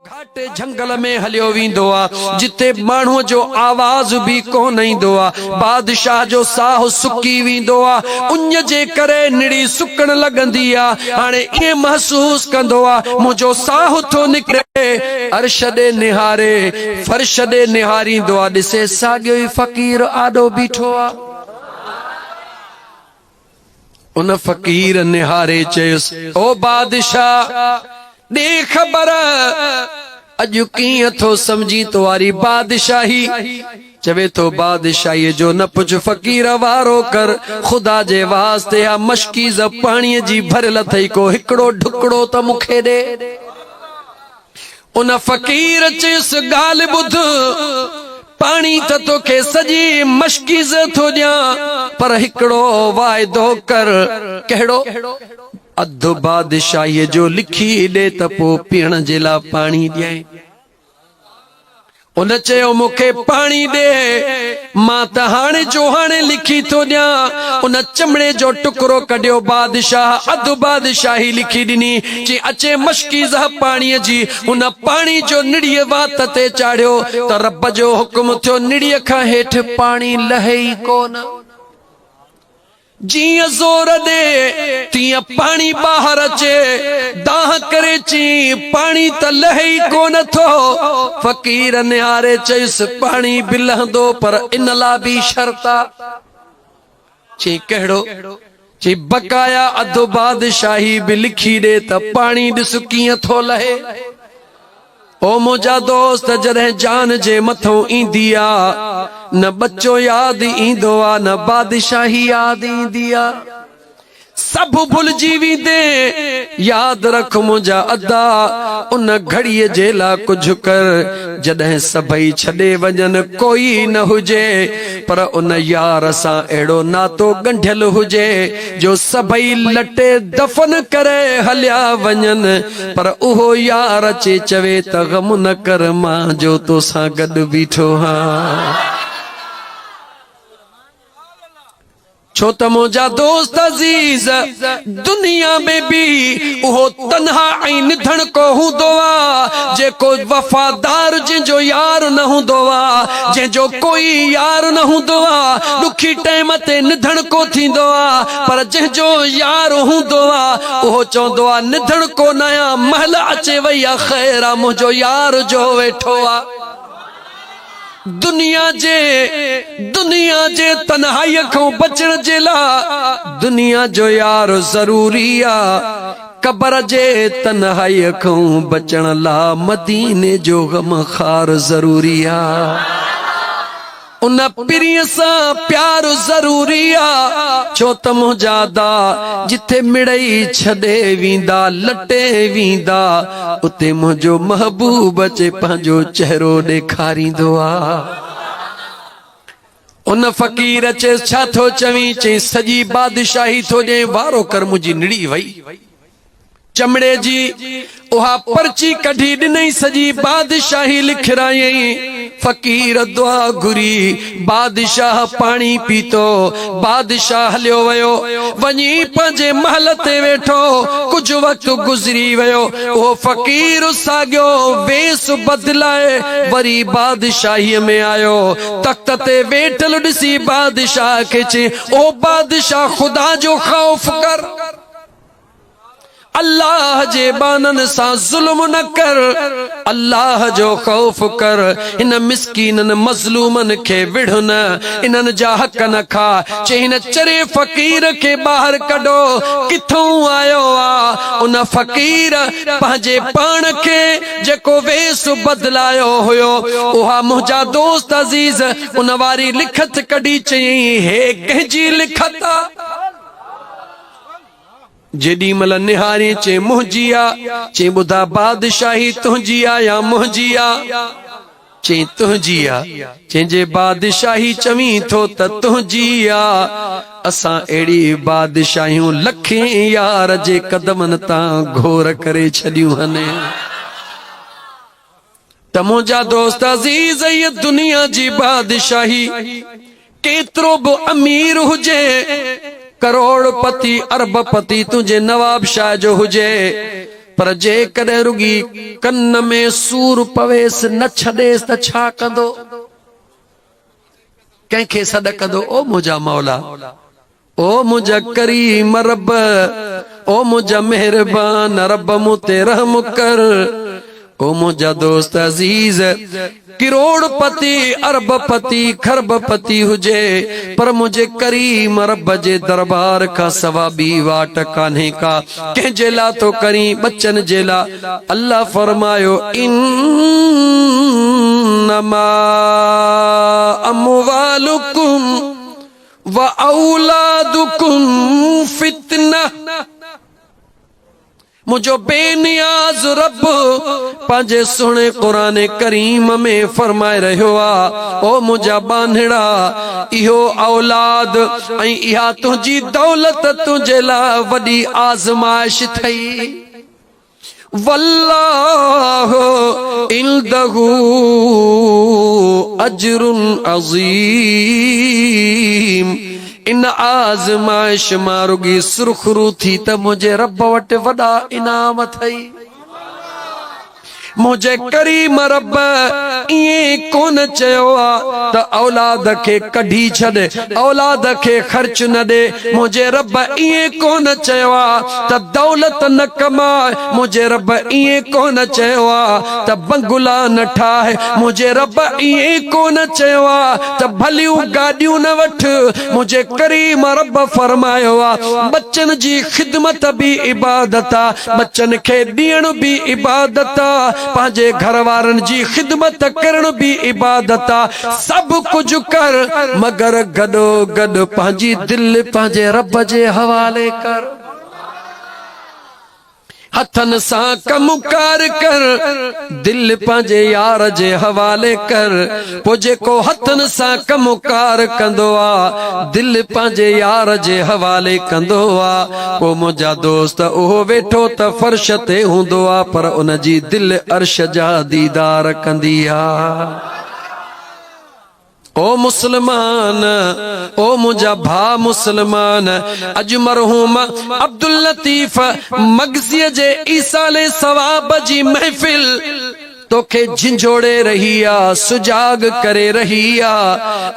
گهاٽ جهنگل ۾ هليو ويندو آ، جتي ماڻهوء جو آواز به ڪونه ايندو آ. بادشاهه جو ساهه سڪي ويندو آ، اڃ جي ڪري نڙي سڪڻ لڳندي آ. هاڻي ائين محسوس ڪندو آ، منهنجو ساهه ٿو نڪري. عرش ڏي نهاري، فرش ڏي نهاريندو آ، ڏسي ساڳيو ئي فقير آڏو بيٺو آ. ان فقير نهاري چيس، او بادشاهه! ڏي خبر، اڄ ڪيئن ٿو سمجهين تواري بادشاهي؟ چوي ٿو، بادشاهيء جو نه پڇ، فقير وارو ڪر، خدا جي واسطي اها مشڪيزه پاڻيء جي ڀريل اٿئي، ڪو هڪڙو ڍڪڙو ته مون کي ڏي. ان فقير چيس ڳالهه ٻڌ، پاڻي ته توکي سڄي مشڪيزه ٿو ڏيان، پر هڪڙو واعدو ڪر. ڪهڙو؟ اڌ بادشاهيء جو لکي ڏي ته پوء پيئڻ جي لاء پاڻي ڏيانء. هن چيو مون کي پاڻي ڏي، مان ته هاڻي جو هاڻي لکي ٿو ڏيان. ان چمڙي جو ٽڪرو ڪڍيو، بادشاهه اڌ بادشاهي لکي ڏني. چي اچي مشڪيزه پاڻيء جي. هن پاڻي جو نڙيء وات تي چاڙهيو ته رب جو حڪم ٿيو نڙيء کان هيٺ پاڻي لهي ئي ڪونه. جيئن زور ڏي تيئن پاڻي ٻاهر اچي، دانهن ڪري چيئي، پاڻي ته لهي ئي ڪونه ٿو. فقير نهاري چيس، پاڻي به لهندو پر ان لا به شرط آ. چيئي ڪهڙو؟ چيئي بقايا اڌ بادشاهي به لکي ڏي ته پاڻي ڏس ڪيئن ٿو لهي. او منهنجا دوست جڏهن جان جي مٿئون ايندي آ نه ٻچو ياد ايندو آ نه بادشاهي ياد ايندي آ سڀ ڀلجي ويندين ياد رک منهنجا ادا ان گهڙي جي لا ڪجهه ڪر جڏهن سڀئي ڇڏي وڃن ڪوئي نه هجي پر ان يار سان اهڙو ناتو ڳنڍيل هجي جو سڀئي لٽي دفن ڪري هليا وڃن پر اهو يار اچي چوي ته غم نه ڪر مان جو توسان گڏ بيٺو هان. ڇو ته منهنجا دوست عزيز دنيا ۾ به اهو تنها ۽ نڌڻڪو هوندو آ جيڪو وفادار جنهن جو يار نه هوندو آ جنهن جو ڪوئي يار نه هوندو آ ڏکي ٽيم تي نڌڻڪو ٿيندو آ پر جنهن جو يار هوندو آ اهو چوندو آ نڌڻ ڪو نه آ مهل اچي وئي آ خير آ منهنجو يار جو ويٺو آ دنيا جي دنيا جي تنهائي کان بچڻ جي لا دنيا جو يار ضروري آ قبر جي تنهائي کان بچڻ لا مديني جو غم خار ضروري آ ان پرينء سان پيار ضروري آ، ڇو ته منهنجا دا جتي مڙئي ڇڏي ويندا، لٽي ويندا، اتي منهنجو محبوب اچي پنهنجو چهرو ڏيکاريندو آ. ان فقير چيس، ڇا ٿو چوين؟ چيس، سڄي بادشاهي ٿو ڏيئين، وارو ڪر منهنجي نڙي وئي. چمڙي جي اها پرچي ڪڍي ڏنئين سڄي بادشاهي لکرايائين. فقير دعا گهري، بادشاهه پاڻي پيتو. بادشاهه هليو ويو، وڃي پنهنجي محل تي ويٺو. ڪجهه وقت گذري ويو، اهو فقير ساڳيو ويس بدلائي وري بادشاهيء ۾ آيو. تخت تي ويٺل ڏسي بادشاهه کي چيائين، او بادشاهه خدا جو خوف ڪر! الله جي ٻانهن سان ظلم نه ڪر، الله جو خوف ڪر، هن مسڪينن مظلومن کي وڙهه نه، انهن جا حق نه کاء، چي هن چري فقير کي ٻاهر ڪڍو، ڪٿئون آيو آ؟ ان فقير پنهنجي پاڻ کي جيڪو ويس بدلايو هيو، اها منهنجا دوست عزيز ان واري لکت ڪڍي چيائين، هيء ڪنهن جي لکت آ؟ جيڏي مھل نھارين چئين منھنجي آ، چئين ٻڌا بادشاھي تنھنجي آ يا منھنجي آ؟ چئين تنھنجي آ، چئين جي بادشاھي چوين ٿو ته تنھنجي آ، اسان اھڙي بادشاھيون لکين يار جي قدمن تان گھور ڪري ڇڏيون ھن. ته منهنجا دوست عزيز هيء دنيا جي بادشاهي ڪيترو به امير هجي ڪروڙ پتي ارب پتي تنهنجي نواب شاهه جو هجي پر جيڪڏهن رڳي ڪن ۾ سور پويس نه ڇڏيس ته ڇا ڪندو ڪنهن کي سڏ ڪندو او منهنجا مولا او منهنجا ڪريم رب، او منهنجا مهربان رب مون تي رحم ڪر، او منهنجا دوست عزيز، ڪروڙ پتي، ارب پتي، کرب پتي هجي پر منهنجي ڪريم رب جي دربار کان سوا ٻي واٽ ڪانهي ڪا، ڪنهن جي لا ٿو ڪرين، ٻچن جي لا، الله فرمايو، انما اموالڪم. واولادکم فتنه منهنجو بي نياز رب پنهنجي سهڻي قرآن ڪريم ۾ فرمائي رهيو آهي او منهنجا ٻانهڙا اهو اولاد ۽ اها تنهنجي دولت تنهنجي لاء وڏي آزمائش ٿئي والله عنده اجر عظيم ان آزمائش مان رڳي سرخرو ٿي ته منهنجي رب وٽ وڏا انعام اٿئي منهنجي ڪريم رب ائين ڪون چيو آ ته اولاد کي ڪڍي ڇڏ اولاد کي خرچ نه ڏي منهنجي رب ائين ڪون چيو آ ته دولت نه ڪماء، منهنجي رب ائين ڪونه چيو آ ته بنگلا نه ٺاهه، منهنجي رب ائين ڪونه چيو آ ته ڀليون گاڏيون نه وٺ، منهنجي ڪريم رب فرمايو آ ٻچن جي خدمت به عبادت آ، ٻچن کي ڏيڻ به عبادت آ، پنهنجي گهر وارن جي خدمت ڪرڻ به عبادت آ. سڀ ڪجهه ڪر، مگر گڏو گڏ پنهنجي دل پنهنجي رب جي حوالي ڪر. هٿن سان ڪم ڪار ڪر، دل پنهنجي يار جي حوالي ڪر. پوء جيڪو هٿن سان ڪم ڪار ڪندو آ، دل پنهنجي يار جي حوالي ڪندو آ. پوء منهنجا دوست، اهو ويٺو ته فرش تي هوندو آ، پر ان جي دل عرش جا ديدار ڪندي آ. او مسلمان او منهنجا ڀا مسلمان اڄ مرحوم عبداللطيف مگسي جي ايصال ثواب جي محفل توکي جھنجھوڙي رهي آ سجاڳ ڪري رهي آ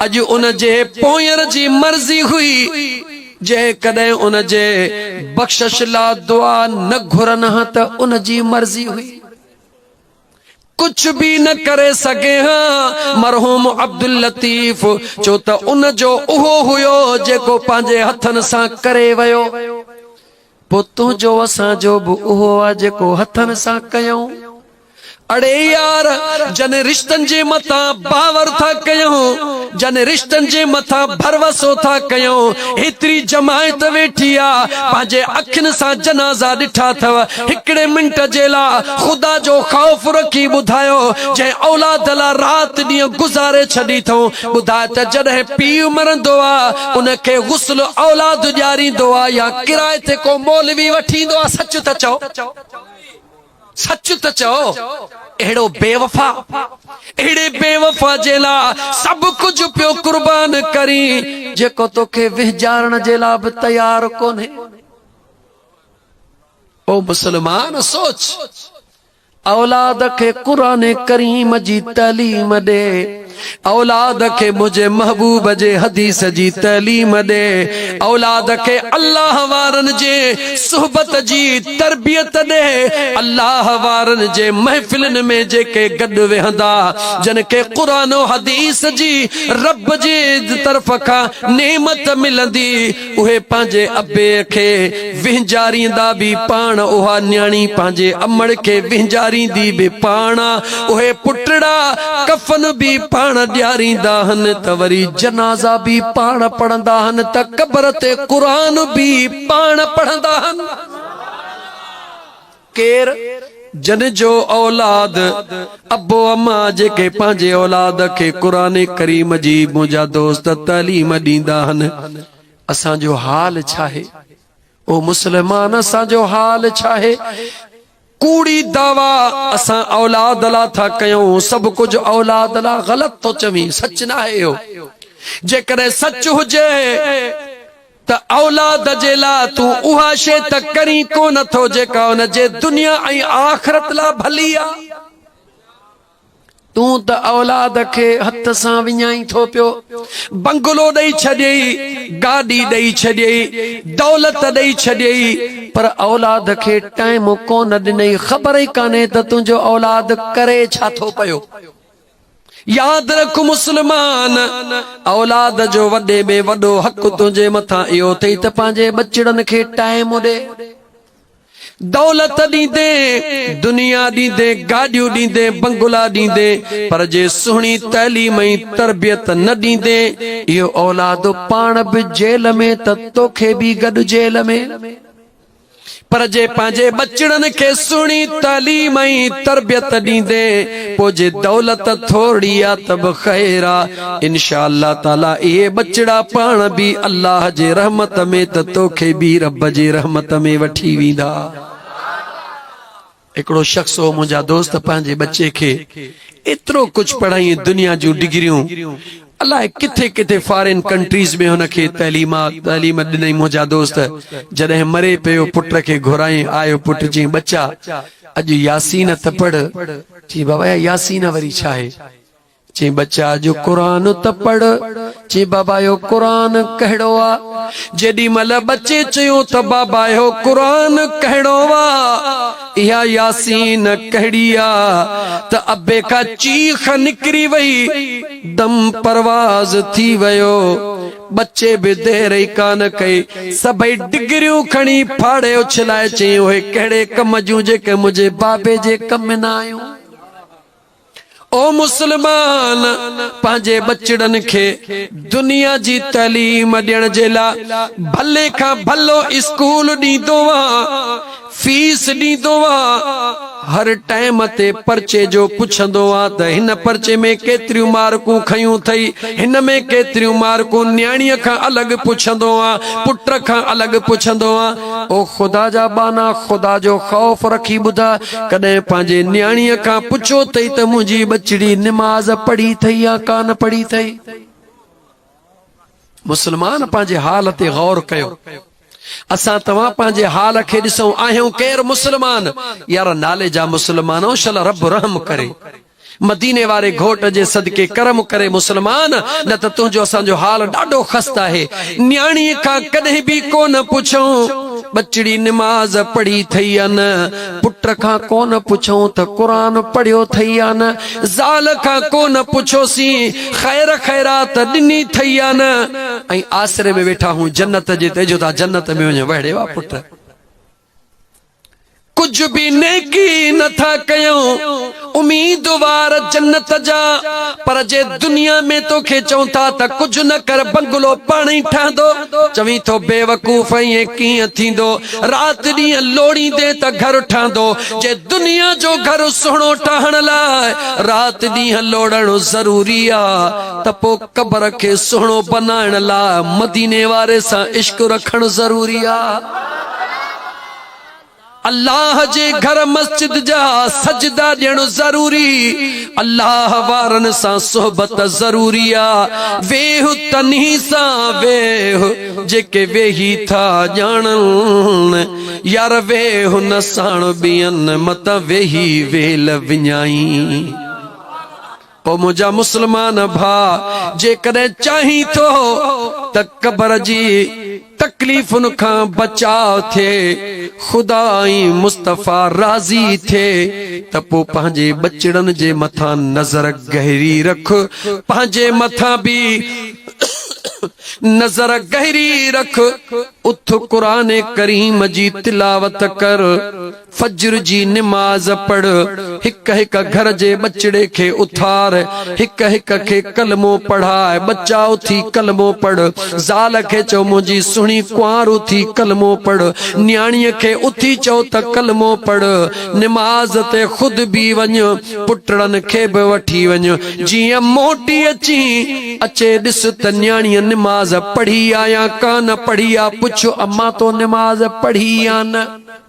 اڄ ان جي پونئير جي مرضي هئي جيڪڏهن ان جي بخشش لا دعا نه گھرن ها ته ان جي مرضي هئي ڪجهه به نه ڪري سگهي ها. مرحوم عبداللطيف چو ته ان جو اهو هيو جيڪو پنهنجي هٿن سان ڪري ويو. پوء تنهنجو اسان جو به اهو آ جيڪو هٿن سان ڪيئون. اڙي يار جنهن رشتن جي متان باور ٿا ڪيئون. جن رشتن جي مٿان ڀروسو ٿا ڪيون، ايتري جماعت ويٺي آ، پنهنجي اکين سان جنازا ڏٺا اٿئو، هڪڙي منٽ جي لا خدا جو خوف رکي ٻڌايو، جنهن اولاد لا رات ڏينهن گذاري ڇڏي اٿئون، ٻڌاء ته جڏهن پيء مرندو آ، ان کي غسل اولاد ڏياريندو آ يا ڪرائي تي ڪو مولوي وٺي ايندو آ، سچ ته چئو. سچ ته چئو اهڙو بيوفا اهڙي بيوفا جي لا سڀ ڪجهه پيو قربان ڪرين جيڪو توکي وهجارڻ جي لا به تيار ڪونهي او مسلمان سوچ اولاد کي قرآن ڪريم جي تعليم ڏي اولاد کي منهنجي محبوب جي حديث جي تعليم ڏي، اولاد کي الله وارن جي صحبت جي تربيت ڏي، الله وارن جي محفلن ۾ جيڪي گڏ ويهندا، جن کي قرآن و حديث جي رب جي طرف کان نعمت ملندي، اهي پنهنجي ابي کي وهنجاريندا به پاڻ، اها نياڻي پنهنجي امڙ کي وهنجاريندي به پاڻ، اهي پٽڙا ڪفن به پاڻ ڏياريندا هن ته وري جنازا به پاڻ پڙهندا هن ته قبر تي قرآن به پاڻ پڙهندا هن. ڪير جن جو اولاد، ابو اما جيڪي پنهنجي اولاد کي قرآن ڪريم جي منهنجا دوست تعليم ڏيندا هن اسان جو حال ڇاهي؟ او مسلمان اسان جو حال ڇاهي؟ ڪوڙي دعويٰ اسان اولاد لا ٿا ڪيون سڀ ڪجهه اولاد لا غلط ٿو چوين سچ ناهي اهو جيڪڏهن سچ هجي ته اولاد جي لاء تون اها شيء ته ڪرين ڪونه ٿو جيڪا ان جي دنيا ۽ آخرت لاء ڀلي آ. تون ته اولاد کي هٿ سان وڃائين ٿو پيو، بنگلو ڏئي ڇڏيئي، گاڏي ڏئي ڇڏيئي، دولت ڏئي ڇڏيئي، پر اولاد کي ٽائيم ڪونه ڏنئي، خبر ئي ڪانهي ته تنهنجو اولاد ڪري ڇا ٿو پيو. ياد رک مسلمان! اولاد جو وڏي ۾ وڏو حق تنهنجي مٿان اهو اٿئي ته پنهنجي ٻچڙن کي ٽائيم ڏي. دولت ڏيندين، دنيا ڏيندين، گاڏيون ڏيندين، بنگلا ڏيندين، پر جي سهڻي تعليم ۽ تربيت نه ڏيندين، اهو اولاد پاڻ به جيل ۾ ته توکي به گڏ جيل ۾. پر جي پنهنجي ٻچڙن کي سهڻي تعليم ۽ تربيت ڏيندي پوء جي دولت ٿورڙي آ ته به خير آ انشاء الله تعالي اهي ٻچڙا پاڻ به الله جي رحمت ۾ ته توکي به رب جي رحمت ۾ وٺي ويندا. هڪڙو شخص هو منهنجا دوست پنهنجي ٻچي کي ايترو ڪجهه پڙهائين دنيا جون ڊگريون الاء ڪٿي ڪٿي فارين ڪنٽريز ۾ هن کي تعليمات تعليم ڏنائين منهنجا دوست جڏهن مري پيو پٽ کي گهرايين آيو پٽ چين ٻچا اڄ ياسين ته پڙهه چين بابا اها ياسين وري ڇا آهي. چي ٻچا اڄ قرآن ته پڙهه. چي بابا اهو قرآن ڪهڙو آ؟ جيڏي مهل ٻچي چيو ته بابا اهو قرآن ڪهڙو آ؟ اها ياسين ڪهڙي آ؟ ته ابي کان چيخ نڪري وئي. دم پرواز ٿي ويو. ٻچي به دير ئي ڪانه ڪئي. سڀئي ڊگريون کڻي ڦاڙي اڇلائي چيائين اهي ڪهڙي ڪم جون جيڪي منهنجي بابي جي ڪم ۾ نه آيون. او مسلمان! پنهنجي ٻچڙن کي دنيا جي تعليم ڏيڻ جي لاء ڀلي کان ڀلو اسڪول ڏيندو آ، فيس ڏيندو آ، هر ٽائيم تي پرچي جو پڇندو آ ته هن پرچي ۾ ڪيتريون مارڪون کنيون ٿئي، هن ۾ ڪيتريون مارڪون نياڻيء کان الڳ پڇندو آ، پٽ کان الڳ پڇندو آ. او خدا جا ٻانها! خدا جو خوف رکي ٻڌاء ڪڏهن پنهنجي نياڻيء کان پڇيو ٿئي ته منهنجي ٻچڙي نماز پڙهي ٿئي يا ڪانه پڙهي ٿئي؟ مسلمان پنهنجي حال تي غور ڪيو اسان توهان پنهنجي حال کي ڏسون آهيون ڪير مسلمان يار نالي جا مسلمانو شل رب رحم ڪري مديني واري گهوٽ جي صدقي ڪرم ڪري مسلمان، نه ته تنهنجو اسان جو حال ڏاڍو خست آهي. نياڻيء کان ڪڏهن به ڪو نه پڇيائون، ٻچڙي نماز پڙهي ٿئي يا نه، پٽ کان ڪو نه پڇيائون ته قرآن پڙهيو ٿئي يا نه، زال کان ڪو نه پڇيوسين خير خيرات ڏني ٿئي يا نه ۽ آسري ۾ ويٺا هون جنت جي ته اجهو ٿا جنت ۾ وڃ وهڙي وا پٽ. ڪجهه به نيڪي نه ٿا ڪيون، اميدوار جنت جا، پر جي دنيا ۾ تو کي چئون ٿا ته ڪجهه نه ڪر بنگلو پاڻ ئي ٺهندو، چوين ٿو بيوقوف ائين ڪيئن ٿيندو، رات ڏينهن لوڙيندين ته گهر ٺهندو، جي دنيا جو گهر سهڻو ٺاهڻ لاء رات ڏينهن لوڙڻ ضروري آ ته پوء قبر کي سهڻو بنائڻ لاء مديني واري سان عشق رکڻ ضروري آ. الله جي گهر مسجد جا سجدا ڏيڻ ضروري، الله وارن سان صحبت ضروري آ، ويهه تنهي سان ويهه جيڪي ويهي ٿا ڄاڻن، يار ويهه نه ساڻ ٻين متان ويهي ويل وڃائين. او منهنجا مسلمان ڀاء! جيڪڏهن چاهين ٿو ته قبر جي تڪليفن کان بچاء ٿئي، خدا ۽ مصطفيٰ راضي ٿئي ته پوء پنهنجي ٻچڙن جي مٿان نظر گهري رک، پنهنجي مٿان به نظر گهري رک، اٿ قرآن ڪريم جي تلاوت ڪر، فجر جي نماز پڙهه، هڪ هڪ گهر جي ٻچڙي کي اٿار، هڪ هڪ کي ڪلمو پڙهاء، ٻچا اٿي ڪلمو پڙهه، زال کي چئو منهنجي سهڻي ڪنوار اٿي ڪلمو پڙهه، نياڻيء کي اٿي چئو ته ڪلمو پڙهه، نماز تي خود به وڃ، پٽڙن کي به وٺي وڃ، جيئن موٽي اچين، اچي ڏس ته نياڻيء نماز پڙهي آ يا ڪانه پڙهي آ، پڇ امان تو نماز پڙهي يا نه؟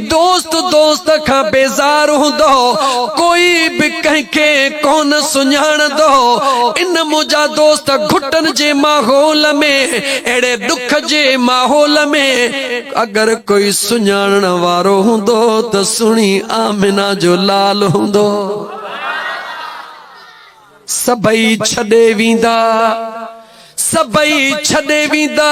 دوست دوست کان بيزار هوندو، ڪوئي به ڪنهن کي ڪونه سڃاڻندو، ان منهنجا دوست گهٽن جي ماحول ۾، اهڙي ڏک جي ماحول ۾، اگر ڪوئي سڃاڻڻ وارو هوندو ته سهڻي آمنه جو لال هوندو، سڀئي ڇڏي ويندا، سڀئي ڇڏي ويندا.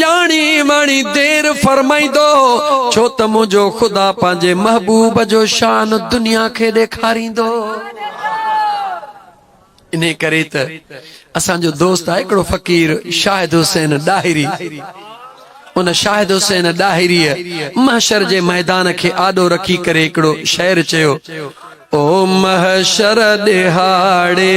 ڄاڻي واڻي دير فرمائيندو، ڇو ته منهنجو خدا پنهنجي محبوب جو شان دنيا کي ڏيکاريندو. انهيء ڪري ته اسان جو دوست آهي هڪڙو فقير شاهد حسين ڏاهري. ان شاهد حسين ڏاهريء محشر جي ميدان کي آڏو رکي ڪري هڪڙو شعر چيو، او محشر ڏهاڙي!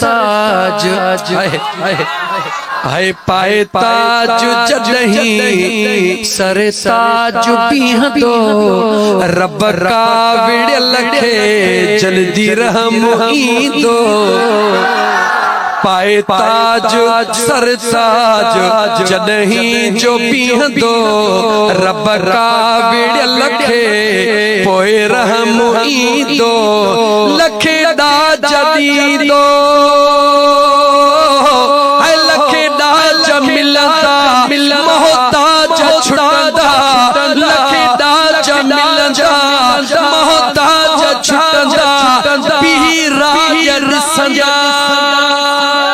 تاج هي پائي تاج جڏهين سر تاج بيهندو رب ڪا وڙيل کي جلدي رحم ايندو پائي تاج سر تاج جڏهين جو بيهندو رب ڪا وڙهيل کي پوء رحم ايندو لک ڏاج ڏيندو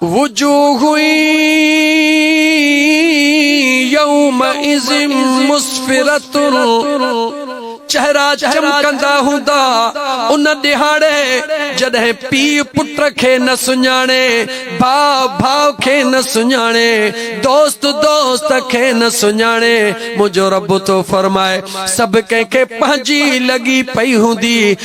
وجوه يومئذ مسفرة چهرا چمڪندا هوندا ان ڏهاڙي جڏهن پيء پٽ کي نه سڃاڻي، ڀاء ڀاء کي نه سڃاڻي، دوست دوست کي نه سڃاڻي. منهنجو رب ٿو فرمائي، سڀ ڪنهن کي پنهنجي لڳي پئي هوندي.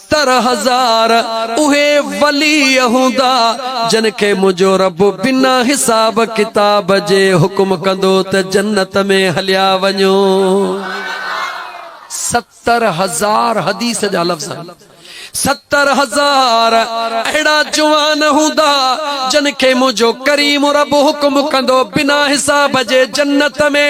ستر هزار اهي ولي هوندا جن کي منهنجو رب بنا حساب ڪتاب جي حڪم ڪندو ته جنت ۾ هليا وڃو. ستر هزار حديث جا لفظ آهن. ستر هزار اهڙا جوان هوندا جن کي منهنجو ڪريم رب حڪم ڪندو بنا حساب جي جنت ۾.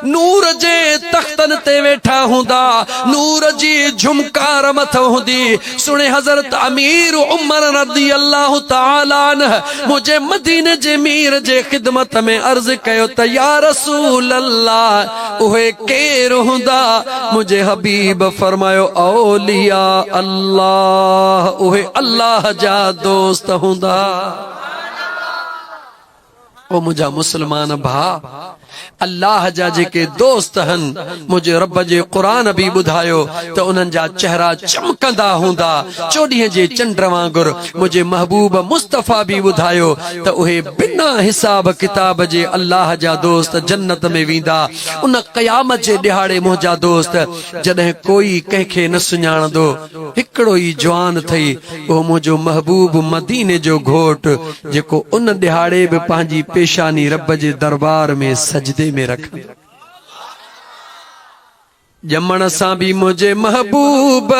نور جي تختن تي ويٺا هوندا، نور جي جهمڪار مٿن هوندي، سڻي حضرت امير عمر رضي الله تعالي عنه منهنجي مديني جي مير جي خدمت ۾ عرض ڪيو ته يا رسول الله اهي ڪير هوندا؟ منهنجي حبيب فرمايو اولياء الله اهي الله جا دوست هوندا. او منهنجا مسلمان ڀاء! الله جا جيڪي دوست هن، منهنجي رب جي قرآن به ٻڌايو ته انهن جا چهرا چمڪندا هوندا، چوڏهين جي چنڊ وانگر، منهنجي محبوب مصطفيٰ به ٻڌايو ته اهي بنا حساب ڪتاب جي الله جا دوست جنت ۾ ويندا، ان قيامت جي ڏهاڙي منهنجا دوست جڏهن ڪوئي ڪنهن کي نه سڃاڻندو، هڪڙو ئي جوان اٿئي، اهو منهنجو محبوب مديني جو گهوٽ، جيڪو ان ڏهاڙي به پنهنجي پيشاني رب جي دربار ۾ سجدي ۾ رکندو. ڄمڻ سان به منهنجي محبوب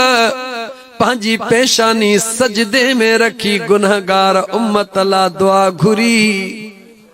پنهنجي پيشاني سجدي ۾ رکي گنهگار امت لا دعا گهري.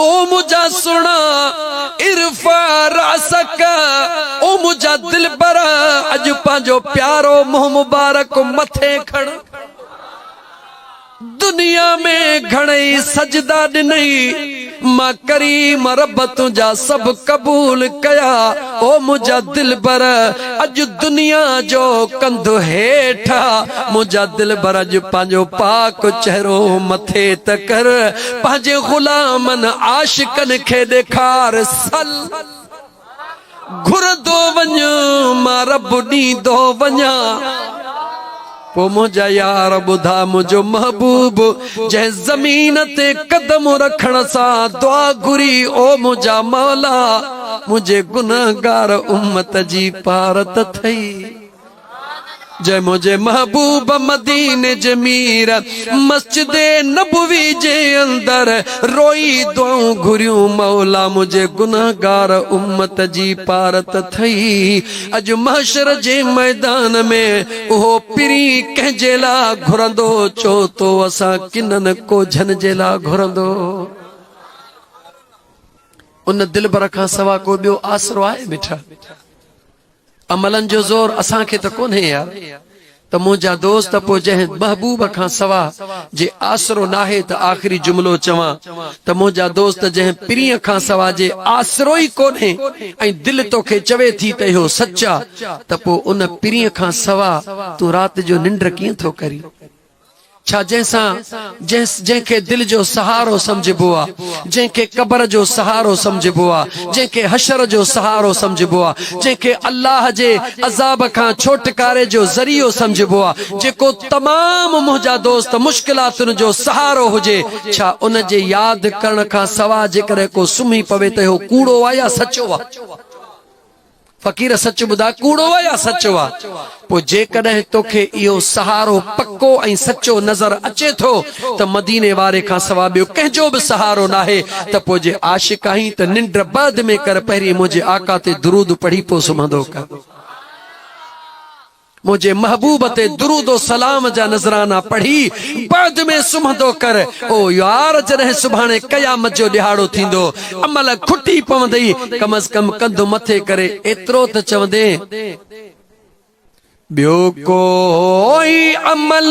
او منهنجا سهڻا ارفع راسک او منهنجا دلبر اڄ پنهنجو پيارو منهن مبارڪ مٿي کڻ دنيا ۾ گهڻئي سجدا ڏنئي مان ڪريم رب تنهنجا سڀ قبول ڪيا او منهنجا دلبر اڄ دنيا جو ڪنڌ هيٺ منهنجا دلبر اڄ پنهنجو پاڪ چهرو مٿي ته ڪر پنهنجي غلامن عاشقن کي ڏيکار سل گهرندو وڃ مان رب ڏيندو وڃان پوء منهنجا يار ٻڌا منهنجو محبوب جنهن زمين تي قدم رکڻ سان دعا گهري او منهنجا مولا منهنجي گنهگار امت جي پارت ٿئي جي منهنجي محبوب مديني جي مير مسجد نبوي جي اندر روئي دعائون گهريون مولا منهنجي گنهگار امت جي پارت ٿئي اڄ محشر جي ميدان ۾ اهو پرين ڪنهن جي لا گهرندو چو تو اسان ڪنن ڪوجهن جي لا گهرندو ان دلبر کان سوا ڪو ٻيو آسرو آهي مٺا املن جو زور اسان کي ته ڪونهي يار ته منهنجا دوست پوء جنهن محبوب کان سوا جي آسرو ناهي ته آخري جملو چوان ته منهنجا دوست جنهن پرينء کان سوا جي آسرو ئي ڪونهي ۽ دل توکي چوي ٿي ته اهو سچ آ ته پوء ان پرينء کان سوا تون رات جو ننڊ ڪيئن ٿو ڪرين ڇا جنهن سان جنهن کي دل جو سهارو سمجهبو آ، جنهن کي قبر جو سهارو سمجهبو آ، جنهن کي حشر جو سهارو سمجهبو آ، جنهن کي الله جي عذاب کان ڇوٽڪاري جو ذريعو سمجهبو آ، جيڪو تمام منهنجا دوست مشڪلاتن جو سهارو هجي، ڇا ان جي ياد ڪرڻ کان سواء جيڪڏهن ڪو سمهي پوي ته اهو ڪوڙو آ يا سچو آ؟ فقير سچ ٻڌاء ڪوڙو آ يا سچو آ؟ پوء جيڪڏهن توکي اهو سهارو پڪو ۽ سچو نظر اچي ٿو ته مديني واري کان سوا ٻيو ڪنهن جو به سهارو ناهي ته پوء جي عاشق آهين ته ننڊ بعد ۾ ڪر پهرين منهنجي آقا تي درود پڙهي پوء سمهندو ڪر. منهنجي محبوب تي درود و سلام جا نذرانا پڙهي بعد ۾ سمهندو ڪر او يار جڏهن سڀاڻي قيامت جو ڏهاڙو ٿيندو امهل کٽي پوندئي ڪم از ڪم ڪنڌ مٿي ڪري ايترو ته چوندين ٻيو ڪوئي عمل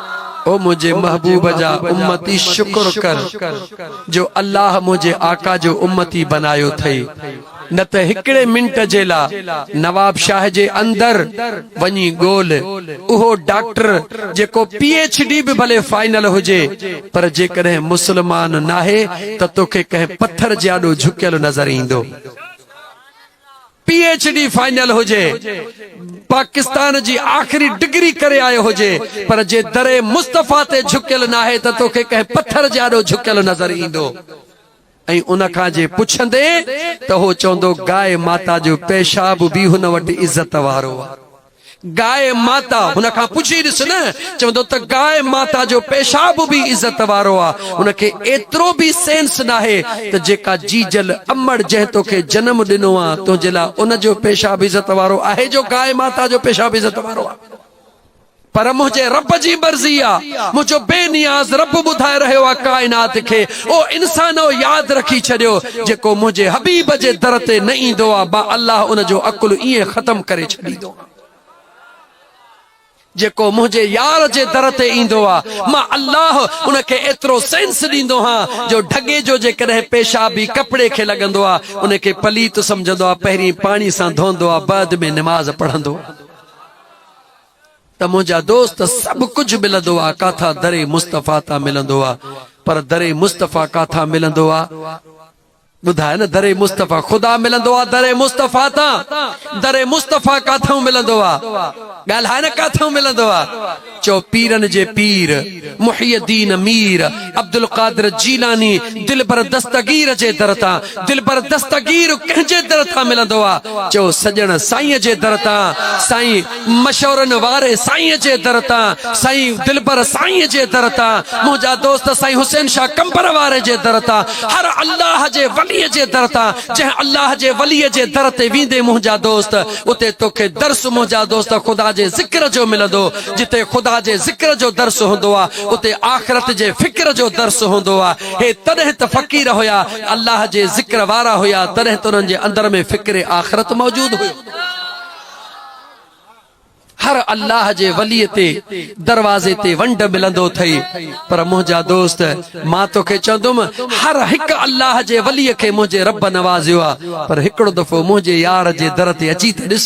او منهنجي محبوب جا امتي شڪر ڪر جو الله منهنجي آقا جو امتي بنايو ٿئي نه ته هڪڙي منٽ جي لا نوابشاهه جي اندر وڃي ڳول اهو ڊاڪٽر جيڪو پي ايڇ ڊي به ڀلي فائنل هجي پر جيڪڏهن مسلمان ناهي ته توکي ڪنهن پٿر جي آڏو جهڪيل نظر ايندو. پي ايڇ ڊي فائنل هجي، پاڪستان جي آخري ڊگري ڪري آيو هجي، پر جي دري مصطفيٰ تي جهڪيل ناهي ته توکي ڪنهن پٿر جي آڏو جهڪيل نظر ايندو ۽ ان کان جي پڇندين ته هو چوندو گائي ماتا جو پيشاب به هن وٽ عزت وارو آ. گائي ماتا هن کان پڇي ڏس نه چوندو ته گائي ماتا جو پيشاب به عزت وارو آ ان کي ايترو به سينس ناهي ته جيڪا جيجل امڙ جنهن توکي جنم ڏنو آ تنهنجي لا ان جو پيشاب عزت وارو آهي جو گائي ماتا جو پيشاب عزت وارو آ پر منهنجي رب جي مرضي آ منهنجو بي نياز رب ٻڌائي رهيو آ ڪائنات کي او انسانؤ! ياد رکي ڇڏيو، جيڪو منهنجي حبيب جي در تي نه ايندو آ، مان الله ان جو عقل ائين ختم ڪري ڇڏيندو آهيان. جيڪو منهنجي يار جي در تي ايندو آ، مان الله ان کي ايترو سينس ڏيندو آهيان جو ڍڳي جو جيڪڏهن پيشاب ئي ڪپڙي کي لڳندو آ، ان کي پليت سمجهندو آ، پهرين پاڻي سان ڌوئندو آ، بعد ۾ نماز پڙهندو آ. ته منهنجا دوست سڀ ڪجهه ملندو آ ڪاٿان در مصطفيٰ تان ملندو آ پر در مصطفيٰ ڪاٿان ملندو آ ٻڌاء نه در مصطفيٰ خدا ملندو آ در مصطفيٰ تان در مصطفيٰ ڪاٿان ملندو آ ڳالهاء نه ڪاٿان ملندو آ چئو پيرن جي پير محي الدين مير عبدالقادر جيلاني دلبر دستگير جي در تان دلبر دستگير ڪنهن جي در تان ملندو آ چئو سڄڻ سائين جي در تان سائين مشورن واري سائين جي در تان سائين دلبر سائين جي در تان منهنجا دوست سائين حسين شاھ قمبر واري جي در تان هر الله جي ولي جي در تان جنهن الله جي ولي جي در تي ويندي منهنجا دوست اتي توکي درس منهنجا دوست خدا جي ذڪر جو ملندو جتي خدا جي ذڪر جو درس هوندو هو اتي آخرت جي فڪر جو درس هوندو هو. هي تڏهن ته فقير هيا، الله جي ذڪر وارا هيا تڏهن ته انهن جي اندر ۾ فڪر آخرت موجود هيو. هر الله جي ولي تي دروازي تي ونڊ ملندو اٿئي پر منهنجا دوست مان توکي چوندم هر هڪ الله جي ولي کي منهنجي رب نوازيو آهي پر هڪڙو دفعو منهنجي يار جي در تي اچي ته ڏس.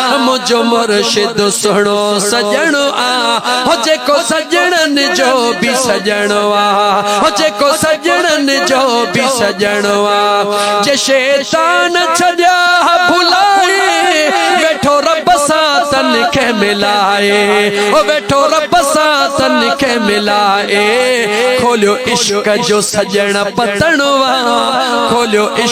منهنجو مرشد سهڻو سڄڻ آ هو جيڪو سڄڻن جو به سڄڻ آ هو جيڪو سڄڻن جو به سڄڻ آ جي شيطان ڇڏيا ڀلائي ويٺو رب سان تن کي ملائي او ويٺو رب سان تن کي ملائي کوليو عشق جو سڄڻ پتڻ آ کوليو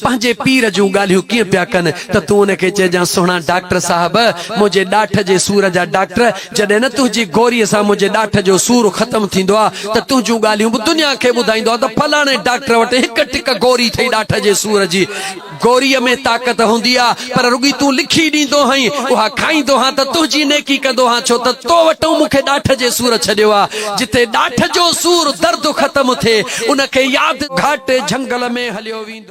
پنهنجي پير جون ڳالهيون ڪيئن پيا ڪن ته تون ان کي چئجانس سهڻا ڊاڪٽر صاحب منهنجي ڏاٺ جي سور جا ڊاڪٽر جڏهن نه تنهنجي گوريء سان منهنجي ڏاٺ جو سور ختم ٿيندو آ ته تنهنجون ڳالهيون به دنيا کي ٻڌائيندو آ ته فلاڻي ڊاڪٽر وٽ هڪ ٽڪ گوري ٿئي ڏاٺ جي سور جي گوريء ۾ طاقت هوندي آ پر رڳي تون لکي ڏيندو هئين اها کائيندو هان ته تنهنجي نيڪي ڪندو هان ڇو ته تو وٽئون مون کي ڏاٺ جي سور ڇڏيو آ جتي ڏاٺ جو سور درد ختم ٿئي ان کي ياد گهاٽي جهنگل ۾ هليو ويندو.